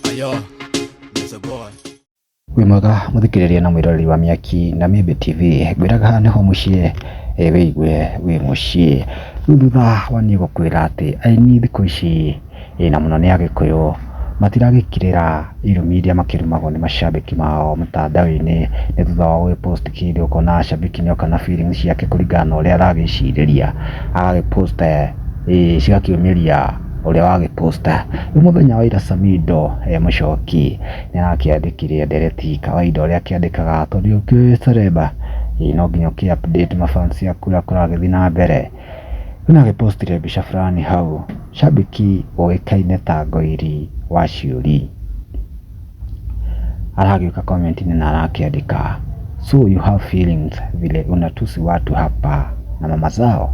Ayo, Mr. Boy. wĩ mwega mũthikĩrĩria na mwĩroreri wa mĩaki na mĩmbĩ tv ngwĩraga haha nĩho mũciĩ eh, wĩigue wĩ mũciĩ rĩu thutha wa niĩ gũkwĩra atĩ aini thikũ ici eh, na mũno nĩ agĩkũyũ matiragĩkirĩra irumi iria makĩrumagwo nĩ macambĩki mao mĩtandao-inĩ nĩ thutha wa gũgĩpost kĩndũ ũkona cambĩki nĩ oka na feelings ciake kũringana na ũrĩa aragĩcirĩria agagĩpost eh, cigakiumĩria ũrĩa wagĩposta nĩ mũthenya wa ira Samido e mũcoki nĩ arakĩandĩkire ndereti kawaida ũrĩa akĩandĩkaga tondũ ũkĩũĩ cereba ĩ no nginya ũkĩ update ma fans aku ũrĩa kũragĩthiĩ na mbere rĩu nĩ agĩpostire mbica fulani hau shabiki ũĩkaine ta ngoiri wa ciũri aragĩũka comment-inĩ na arakĩandĩka so you have feelings vile unatusi watu hapa na mama zao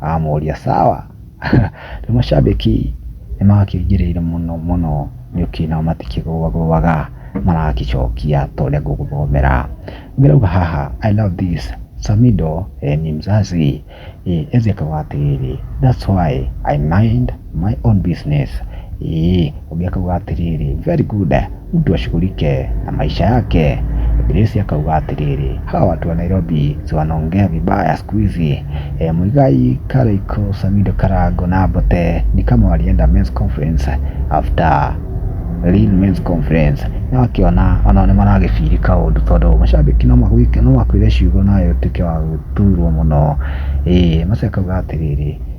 amoria sawa rĩu macambĩki nĩ makĩingĩrĩire mũno mũno nĩ ũkĩ nao matikĩgũbagũbaga maragĩcokia ta ũrĩa ngũgũthomera. Nĩ ũrauga haha I love this Samido eh, ni mzazi eh, ezi akaga atĩrĩrĩ that's why I mind my own business eh, ũngĩ akauga atĩrĩrĩ very good mtu ashughulike na maisha yake. Grace akauga atiriri, hawa watu wa Nairobi si wanaongea vibaya siku hizi. E, Muigai, Kariko, Samido, Karango na Mbote ni kama walienda men's conference after Real Men's Conference na wakiona ona nĩ maragĩbiri kaũndũ tondũ mashabiki no magwĩke no makwĩre ciugo nayo ũtuĩke wa gũturwo mũno ĩĩ Mercy akauga atĩrĩrĩ